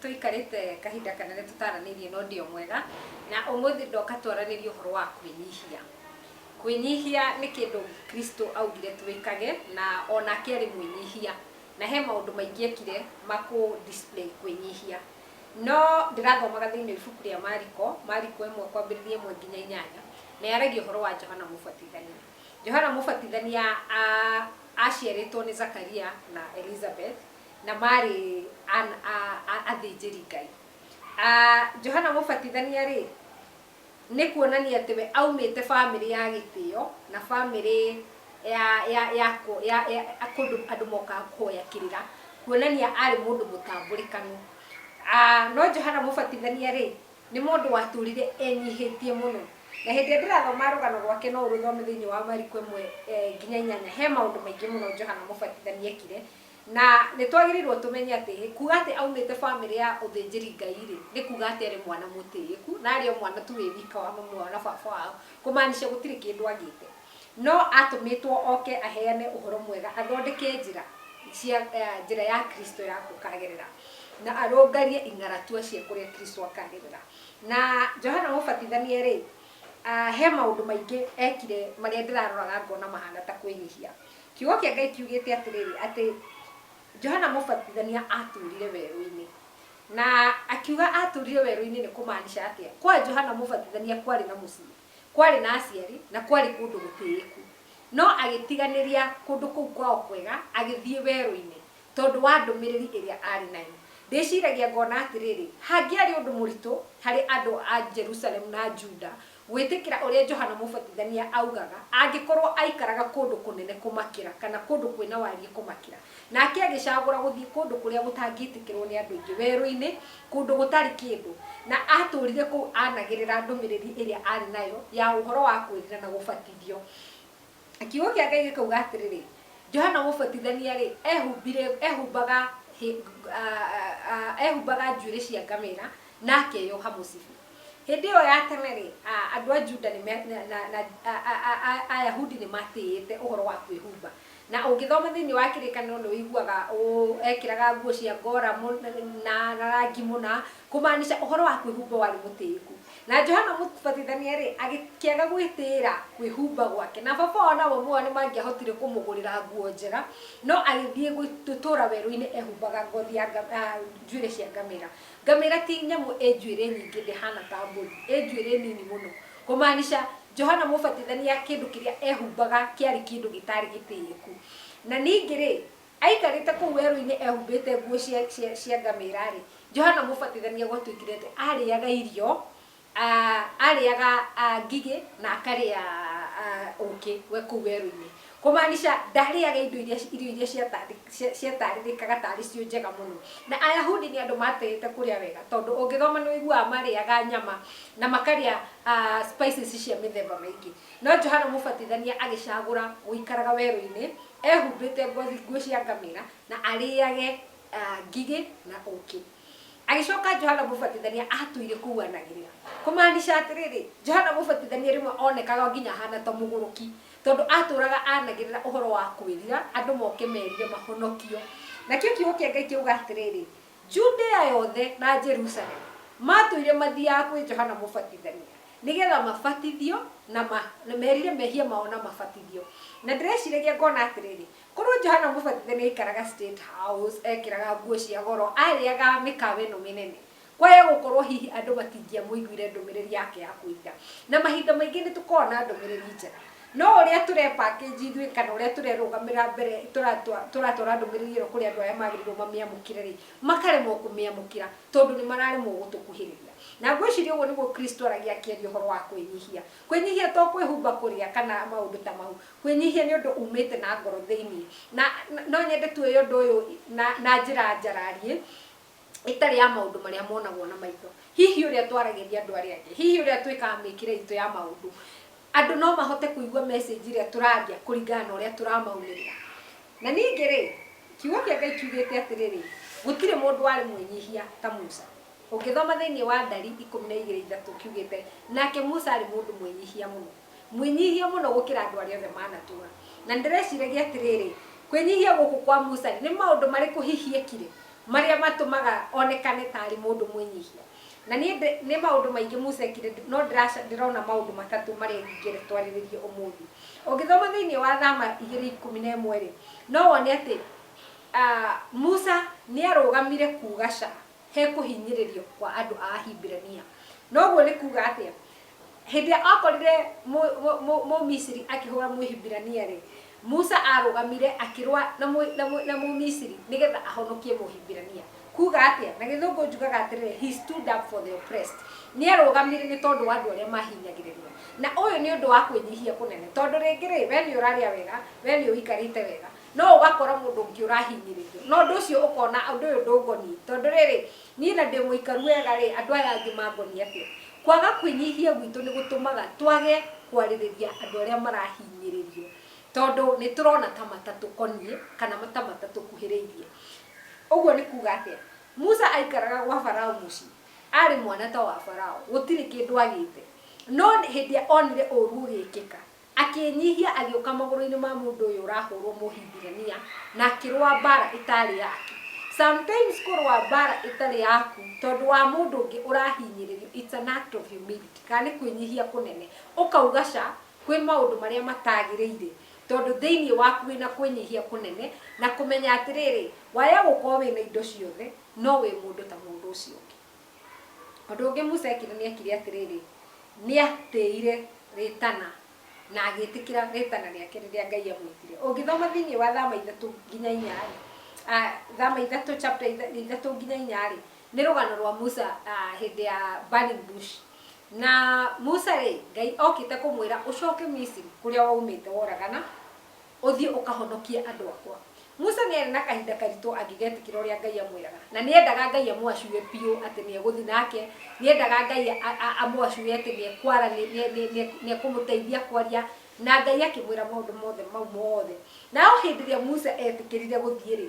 tũikarĩte kahinda kanene tũtaranĩirie na ũndio mwega na ũmũthĩ ndoka twaranĩrie ũhoro wa kwĩnyihia kwĩnyihia nĩ kĩndũ kristo augire twĩkage na onake arĩ mwĩnyihia na he maũndũ maingĩ ekire makũ display kwĩnyihia No ndĩrathomaga thĩinĩ wa ibuku rĩa Mariko, Mariko ĩmwe kwambĩrĩria ĩmwe nginya inyanya, nĩ yaragia ũhoro wa Johana Mũbatithania. Johana Mũbatithania aaciarĩtwo nĩ Zakaria na Elizabeth, na maarĩ athĩnjĩri Ngai. Johana Mũbatithania rĩ, Nĩ kuonania atĩ we aumĩte famĩlĩ ya gĩtĩo na famĩlĩ ya ya ya ya ya kũndũ andũ mokaga kũhoya kĩrĩra, kuonania arĩ mũndũ mũtambũrĩkanu. No Johana Mũbatithania rĩ, nĩ mũndũ watũrire enyihĩtie mũno. Na hĩndĩ ĩrĩa ndĩrathoma rũgano rwake no ũrũthome thĩinĩ wa Mariko ĩmwe nginya inyanya, he maũndũ maingĩ mũno Johana Mũbatithania ekire Na nĩ twagĩrĩirũo tũmenye atĩrĩ, kuuga atĩ aumĩte famĩlĩ ya ũthĩnjĩri-Ngai-rĩ, nĩ kuuga atĩ arĩ mwana mũtĩĩku, na arĩ o mwana tu wĩ wika wa mami wao na baba wao, kũmaanisha gũtirĩ kĩndũ agĩte. No aatũmĩtwo oke aheane ũhoro mwega, athondeke njĩra cia, njĩra ya Kristo ya gũkagerera, na arũngarie ing'aratua cia kũrĩa Kristo akagerera. Na Johana Mũbatithania-rĩ, he maũndũ maingĩ ekire marĩa ndĩraroraga ngona mahana ta kwĩnyihia. Kiugo kĩa Ngai kiugĩte atĩrĩrĩ, atĩ Johana Mũbatithania aatũũrire werũ-inĩ. Na akiuga aatũũrire werũ-inĩ nĩ kũmaanisha atĩa? Kwa Johana Mũbatithania kwarĩ na mũciĩ, kwarĩ na aciari, na kwarĩ kũndũ gũtĩĩku. No agĩtiganĩria kũndũ kũu kwao kwega agĩthiĩ werũ-inĩ tondũ wa ndũmĩrĩri ĩrĩa aarĩ nayo. Ndĩciragia ngona atĩrĩrĩ, hangĩarĩ ũndũ mũritũ harĩ andũ a Jerusalemu na Juda Gwĩtĩkĩra ũrĩa Johana Mũbatithania augaga angĩkorũo aikaraga kũndũ kũnene kũmakĩra kana kũndũ kwĩ na wariĩ kũmakĩra, nake agĩcagũra gũthiĩ kũndũ kũrĩa gũtangĩtĩkĩrũo nĩ andũ aingĩ, werũ-inĩ, kũndũ gũtarĩ kĩndũ, na aatũũrire kũu aanagĩrĩra ndũmĩrĩri ĩrĩa aarĩ nayo ya ũhoro wa kwĩrira na gũbatithio. Kiugo kĩa Ngai gĩkauga atĩrĩrĩ, Johana Mũbatithania-rĩ, eehumbire, eehumbaga hĩ, a, a, eehumbaga njuĩrĩ cia ngamĩra, na akeyoha mũcibi. Hĩndĩ ĩyo ya tene-rĩ, a, andũ a Juda nĩ me, na, na, na a, a, a, a, Ayahudi nĩ maatĩĩte ũhoro wa kwĩhumba. Na ũngĩthoma thĩinĩ wa Kĩrĩkanĩro nĩ ũiguaga ũũ, Ekĩraga nguo cia ngora mũna, na, na rangi mũna, kũmaanica ũhoro wa kwĩhumba warĩ mũtĩĩku. Na Johana Mũbatithania-rĩ, agĩkĩaga gwĩtĩĩra kwĩhumba gwake, na baba wao na mami wao nĩ mangĩahotire kũmũgũrĩra nguo njega, no agĩthiĩ gũtũũra werũ-inĩ ehumbaga ngothi ya njuĩrĩ cia ngamĩra. Ngamĩra ti nyamũ ĩ njuĩrĩ nyingĩ, ndĩhaana ta mbũri, ĩ njuĩrĩ nini mũno. Kũmaanisha, Johana Mũbatithania kĩndũ kĩrĩa ehumbaga kĩarĩ kĩndũ gĩtaarĩ gĩtĩĩku. Na ningĩ-rĩ, Aikarĩte kũu werũ-inĩ ehumbĩte nguo cia, cia, cia ngamĩra-rĩ, Johana Mũbatithania gwatuĩkire atĩ aarĩaga irio, a, aarĩaga a, ngigĩ na akarĩa a, ũũkĩ we kũu werũ-inĩ. Kũmaanisha, ndaarĩaga indo iria, irio iria ciatandĩ, cia, ciataarĩrĩkaga ta arĩ cio njega mũno. Na Ayahudi nĩ andũ maatĩĩte kũrĩa wega, tondũ ũngĩthoma nĩ ũiguaga marĩaga nyama na makarĩa a, spices cia mĩthemba mĩingĩ. No Johana Mũbatithania agĩcagũra gũikaraga werũ-inĩ ehumbĩte ngothi nguo cia ngamĩra na arĩage ah, ngigĩ na ũkĩ agĩcoka johana mũbatithania atũire kũuanagĩrĩra kũmaanisha atĩrĩrĩ johana mũbatithania rĩmwe onekaga nginya ahana ta mũgũrũki tondũ atũraga anagĩrĩra ũhoro wa kwĩrira andũ moke merire mahonokio nakĩo kiugo kĩa ngai kiuga atĩrĩrĩ Judea yothe na Jerusalemu maatũire mathiaga kwĩ Johana Mũbatithania nĩ getha mabatithio na ma, na merire mehia mao na mabatithio. Na ndĩreciragia ngona atĩrĩrĩ, korwo Johana Mũbatithania aikaraga State House, ekĩraga nguo cia goro, arĩaga mĩkawa ĩno mĩnene, kwahĩa gũkorwo hihi andũ matingĩamũiguire ndũmĩrĩri yake ya kũiya. Na mahinda maingĩ nĩ tũkoragwo na ndũmĩrĩri njega. No ũrĩa tũrepackage ithuĩ kana ũrĩa tũrerũgamĩrĩra mbere tũratwara ndũmĩrĩri ĩyo kũrĩ andũ arĩa magĩrĩirwo mamĩamũkĩre-rĩ, makaremwo kũmĩamũkĩra tondũ nĩmararemwo gũtũkuhĩrĩria. Na ngwĩciria ũguo nĩguo Kristo aragia akĩaria ũhoro wa kwĩnyihia. Kwĩnyihia to kwĩhumba kũrĩa kana maũndũ ta mau. Kwĩnyihia nĩ ũndũ umĩte na ngoro thĩiniĩ. Na no nyende tuoye ũndũ ũyũ na njĩra njararie, ĩtarĩ ya maũndũ marĩa monagwo na maitho, hihi ũrĩa twaragĩria andũ arĩa angĩ, hihi ũrĩa twĩkaga mĩkĩre itũ ya maũndũ, andũ no mahote kũigua message ĩrĩa tũraria kũringana na ũrĩa tũramaumĩrĩra. Na ningĩ rĩ, kiugo kĩa Ngai kiugĩte atĩrĩrĩ, gũtirĩ mũndũ warĩ mwĩnyihia ta Musa. Ũngĩthoma thĩinĩ wa Ndari ikũmi na igĩrĩ ithatũ kiugĩte, nake Musa arĩ mũndũ mwĩnyihia mũno. Mwĩnyihie mũno gũkĩra andũ arĩa othe maanatũũra. Na nĩndĩreciragia atĩrĩrĩ, Kwĩnyihia gũkũ kwa Musa-rĩ, nĩ maũndũ marĩkũ hihi eekire marĩa matũmaga onekane ta arĩ mũndũ mwĩnyihia? Na niĩ ndĩ, nĩ maũndũ maingĩ Musa eekire, no ndĩraca, ndĩrona maũndũ matatũ marĩa ingĩenda twarĩrĩrie ũmũthĩ. Ũngĩthoma thĩinĩ wa Thama igĩrĩ ikũmi na ĩmwe-rĩ, no wone atĩ, a, Musa nĩarũgamire kuuga ca he kũhinyĩrĩrio kwa andũ a Ahibirania. Na ũguo nĩ kuuga atĩa? Hĩndĩ ĩrĩa aakorire Mũmisiri akĩhũũra Mũhibirania-rĩ, Musa aarũgamire akĩrũa na Mũmisiri nĩgetha ahonokie Mũhibirania. Kuuga atĩa? Na Gĩthũngũ njugaga atĩrĩrĩ, he stood up for the oppressed. Nĩ aarũgamire nĩ tondũ wa andũ arĩa maahinyagĩrĩrio. Na ũyũ nĩ ũndũ wa kwĩnyihia kũnene, tondũ rĩngĩ-rĩ, wee nĩ ũrarĩa wega, wee nĩ ũikarĩte wega, no ũgakora mũndũ ũngĩ ũrahinyĩrĩrio, na ũndũ ũcio ũkona ũndũ ũyũ ndũngoniĩ, tondũ rĩrĩ, Niĩ na ndĩ mũikaru wega-rĩ, andũ aya angĩ mangonie atĩa? Kwaga kwĩnyihia gwitũ nĩ gũtũmaga twage kwarĩrĩria andũ arĩa marahinyĩrĩrio, tondũ nĩ tũrona ta matatũkoniĩ kana ta matatũkuhĩrĩirie. Ũguo nĩ kuuga atĩa? Musa aikaraga gwa Farao mũciĩ, arĩ mwana ta wa Farao, gũtirĩ kĩndũ agĩte, no hĩndĩ ĩrĩa onire ũũru ũgĩkĩka, Akĩĩnyihia agĩũka magũrũ-inĩ ma mũndũ ũyũ ũrahũrwo Mũhibirania na akĩrũa mbaara ĩtaarĩ yake. Sometimes kũrũa mbaara ĩtarĩ yaku tondũ wa mũndũ ũngĩ ũrahinyĩrĩrio it's an act of humility kana nĩ kwĩnyihia kũnene. Ũkauga ca kwĩ maũndũ marĩa mataagĩrĩire tondũ thĩinĩ waku wĩna kwĩnyihia kũnene na kũmenya atĩrĩrĩ, waya gũkorwo wĩna indo ciothe no wĩ mũndũ ta mũndũ ũcio ũngĩ. Ũndũ ũngĩ Musa eekire nĩ eekire atĩrĩrĩ, nĩ aatĩĩire rĩĩtana na agĩĩtĩkĩra rĩĩtana rĩake rĩrĩa Ngai aamwĩtire. Ũngĩthoma thĩinĩ wa Thama ithatũ nginya inya-rĩ, Thama ithatũ chapter ithatũ nginya inya-rĩ, nĩ rũgano rwa Musa hĩndĩ ya burning bush. Na Musa-rĩ, Ngai okĩte kũmwĩra ũcoke Misiri kũrĩa waumĩte woragana. Ũthiĩ ũkahonokie andũ akwa. Musa nĩ aarĩ na kahinda karitũ angĩgetĩkĩra ũrĩa Ngai amwĩraga. Na nĩ endaga Ngai amũacure biũ atĩ nĩ egũthiĩ nake. Nĩ endaga Ngai amũacure atĩ nĩ ekwara, nĩ ekũmũteithia kwaria na Ngai akĩmwĩra maũndũ mothe mau mothe. Nayo hĩndĩ ĩrĩa Musa eetĩkĩrire gũthiĩ-rĩ,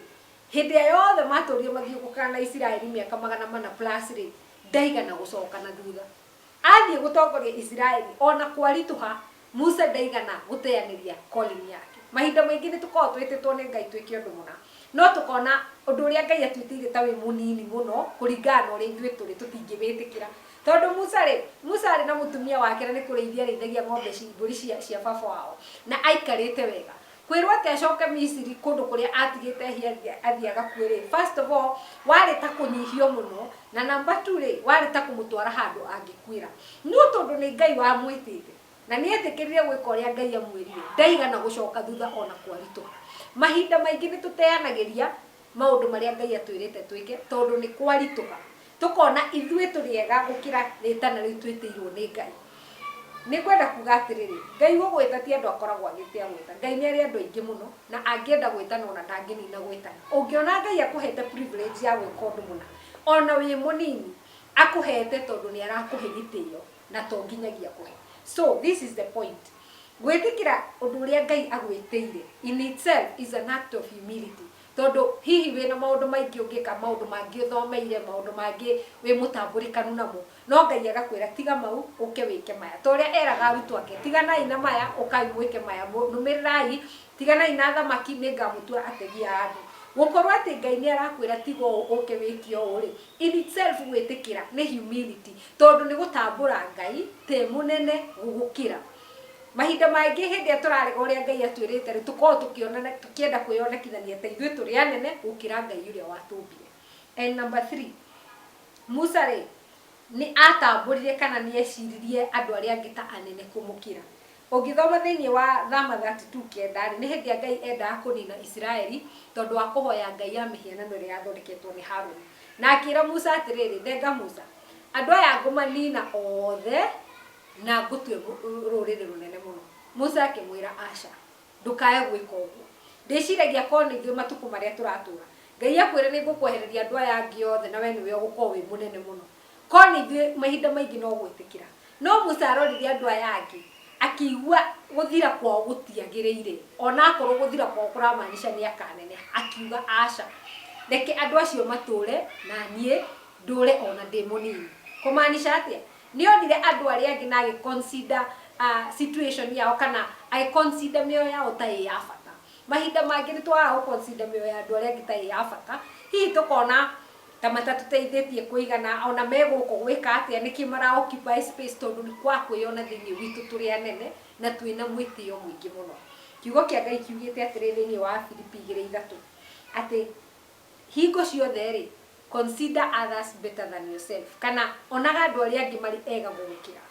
hĩndĩ ĩrĩa yothe maatũũrire mathiũngũkaga na Isiraeli mĩaka magana mana plus-rĩ, ndaigana gũcoka na thutha. Athiĩ gũtongoria Isiraeli. O na kwaritũha, Musa ndaigana gũteanĩria calling yake. Mahinda maingĩ nĩ tũkoragwo twĩtĩtwo nĩ Ngai twĩke ũndũ mũna, no tũkona ũndũ ũrĩa Ngai atwĩtĩire ta wĩ mũnini mũno kũringana na ũrĩa ithuĩ tũrĩ, tũtingĩwĩtĩkĩra. Tondũ Musa-rĩ, Musa arĩ na mũtumia wake na nĩ kũrĩithia arĩithagia ng'ombe ci, mbũri cia, cia baba wao, na aikarĩte wega. Kwĩrwo atĩ acoke Misiri kũndũ kũrĩa atigĩte ahiathi athiĩ agakue rĩ, first of all, warĩ ta kũnyihio mũno, na number two rĩ, warĩ ta kũmũtwara handũ angĩkuĩra. No tondũ nĩ Ngai wamwĩtĩte, na nĩ eetĩkĩrire gwĩka ũrĩa Ngai amwĩrire, ndaigana gũcoka thutha o na kwaritũha. Mahinda maingĩ nĩ tũteanagĩria maũndũ marĩa Ngai atwĩrĩte twĩke tondũ nĩ kwaritũha tũkona ithuĩ tũrĩ ega gũkĩra rĩtana rĩu twĩtĩirwo nĩ Ngai. Nĩ ngwenda kuga atĩrĩrĩ, Ngai gũgwĩta ti andũ akoragwo agĩte agwĩta. Ngai nĩ arĩ andũ aingĩ mũno na angĩenda gwĩtana ona ndangĩnina gwĩtana. Ũngĩona Ngai akũhete privilege ya gwĩka ũndũ mũna ona wĩ mũnini, akũhete tondũ nĩ arakũhe gĩtĩo na to nginyagia akũhe. So this is the point. Gwĩtĩkĩra ũndũ ũrĩa Ngai agwĩtĩire in itself is an act of humility. Tondũ hihi wĩna maũndũ maingĩ ũngĩka, maũndũ mangĩ ũthomeire, maũndũ mangĩ wĩ mũtambũrĩkanu namo, no Ngai agakwĩra tiga mau ũke wĩke maya. Ta ũrĩa eraga arutwo ake, tiganai na maya, ũkai mwĩke maya, nũmĩrĩrai, tiganai na thamaki, nĩngamũtua ategi a andũ. Gũkorwo atĩ Ngai nĩarakwĩra tiga ũũ ũke wĩke ũũ-rĩ, in itself gwĩtĩkĩra nĩ humility. Tondũ nĩ gũtambũra Ngai te mũnene gũgũkĩra. Mahinda mangĩ hĩndĩ ĩrĩa tũrarega ũrĩa Ngai atwĩrĩte-rĩ, tũkoragwo tũkĩonana, tũkĩenda kwĩyonekithania ta ithuĩ tũrĩ anene gũkĩra Ngai ũrĩa watũmbire. And number three, Musa-rĩ, nĩ atambũrire kana nĩ eciririe andũ arĩa angĩ ta anene kũmũkĩra. Ũngĩthoma thĩinĩ wa Thama 32 kenda-rĩ, nĩ hĩndĩ ĩrĩa Ngai eendaga kũniina Isiraeli tondũ wa kũhoya ngai ya mĩhianano ĩrĩa yathondeketwo nĩ Haruni. Na akĩĩra Musa atĩrĩrĩ, Thenga Musa, andũ aya ngũmaniina othe na ngũtue rũrĩrĩ rũnene mũno. Musa akĩmwĩra, Aca, ndũkaae gwĩka ũguo. Ndĩciragia korũo nĩ ithuĩ matukũ marĩa tũratũũra, Ngai akwĩre nĩ ngũkwehereria andũ aya angĩ othe na wee nĩwe ũgũkorũo wĩ mũnene mũno. Korũo nĩ ithuĩ, mahinda maingĩ no gwĩtĩkĩra. No Musa arorire andũ aya angĩ, akĩigua gũthira kwao gũtiagĩrĩire, o na akorũo gũthira kwao kũramaanisha nĩ akaaneneha, akiuga, Aca! Reke andũ acio matũũre, na niĩ ndũũre o na ndĩ mũnini. Kũmaanisha atĩa? Nĩ onire andũ arĩa angĩ na agĩ consider situation yao kana agĩ consider mĩoyo yao ta ĩ ya bata. Mahinda mangĩ nĩ twagaga gũ consider mĩoyo ya andũ arĩa angĩ ta ĩ ya bata, hihi tũkona Ta matatũteithĩtie kũigana ona me gũkũ gwĩka atĩa nĩkĩ mara occupy space tondũ nĩ kwa kwĩyona thĩinĩ witũ tũrĩ anene na twĩ na mwĩtĩo mũingĩ mũno. Kiugo kĩa Ngai kiugĩte atĩrĩ thĩinĩ wa Afilipi igĩrĩ ithatũ atĩ hingo ciothe rĩ consider others better than yourself kana onaga andũ arĩa angĩ marĩ ega gũgũkĩra.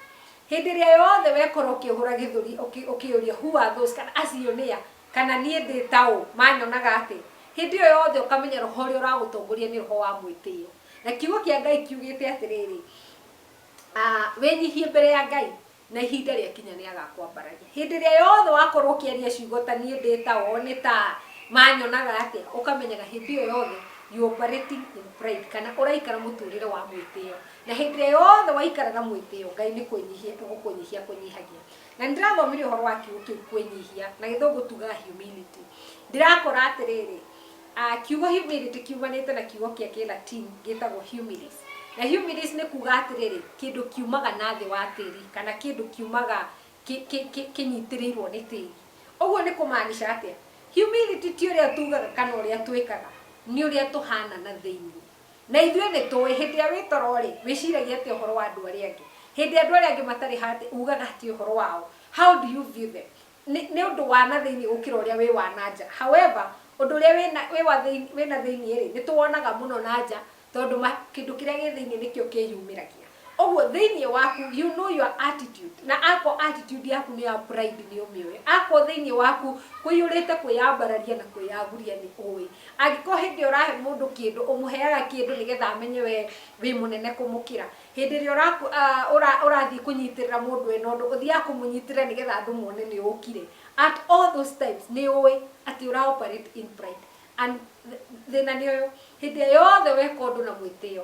Hĩndĩ ĩrĩa yothe wekorwo ũkĩhũra gĩthũri ũkĩyũria who are those kana acio nĩa Kana niĩ ndĩ ta ũ, manyonaga atĩ? Hĩndĩ ĩyo yothe ũkamenya roho ũrĩa ũragũtongoria nĩ roho wa mwĩtĩo. Na Kiugo kĩa Ngai kiugĩte atĩrĩrĩ, Wĩnyihie mbere ya Ngai, na ihinda rĩakinya nĩ agakwambararia. Hĩndĩ ĩrĩa yothe wakorwo ũkĩaria ciugo ta niĩ ndĩ ta o, nĩ ta a, manyonaga atĩa, ũkamenyaga hĩndĩ ĩyo yothe you are operating in pride, kana ũraikara mũtũrĩre wa mwĩtĩo. Na hĩndĩ ĩrĩa yothe waikara na mwĩtĩo, Ngai nĩ kũnyihia egũkũnyihia akũnyihagia. Na nĩ ndĩrathomire ũhoro wa kiugo kĩu kwĩnyihia, na gĩthũngũ tugaga humility. Ndĩrakora atĩrĩrĩ, ah, kiugo humility kiumanĩte na kiugo kĩa kĩlatini gĩtagwo humilis. Na humilis nĩ kuga atĩrĩrĩ, kĩndũ kiumaga na thĩ wa tĩri, kana kĩndũ kiumaga kĩ- kĩ- kĩ- kĩnyitĩrĩirwo nĩ tĩri. Ũguo nĩ kũmaanisha atĩa? Humility ti ũrĩa tugaga kana ũrĩa twĩkaga, nĩ ũrĩa tũhana na thĩinĩ. Na ithuĩ nĩ tũũĩ, hĩndĩ ĩrĩa wĩ toro-rĩ, wĩciragia atĩa ũhoro wa andũ arĩa angĩ? Hĩndĩ ĩrĩa andũ arĩa angĩ matarĩ handĩ, uugaga atĩa ũhoro wao? How do you view them? Nĩ, nĩ ũndũ wa na thĩinĩ gũkĩra ũrĩa wĩ wa na nja. However, ũndũ ũrĩa wĩ na, wĩ wa thĩinĩ, wĩ na thĩinĩ-rĩ, nĩ tũwonaga mũno na nja, tondũ ma, kĩndũ kĩrĩa gĩ thĩinĩ nĩkĩo kĩyumĩragia. Ũguo thĩinĩ waku, you know your attitude, na akorwo attitude yaku nĩ ya pride nĩ ũmĩũĩ. Akorwo thĩinĩ waku kũiyũrĩte kwĩyambararia na kwĩyaguria nĩ ũĩ. Angĩkorwo hĩndĩ ĩrĩa ũrahe mũndũ kĩndũ, ũmũheaga kĩndũ nĩgetha amenye we wĩ mũnene kũmũkĩra. Hĩndĩ ĩrĩa ũrathiĩ kũnyitĩrĩra mũndũ ena ũndũ, ũthiaga kũmũnyitĩrĩra nĩgetha andũ mone nĩ ũkire. At all those times nĩ ũĩ atĩ ũra operate in pride. And thĩna nĩ ũyũ, hĩndĩ ĩrĩa yothe weka ũndũ na mwĩtĩo,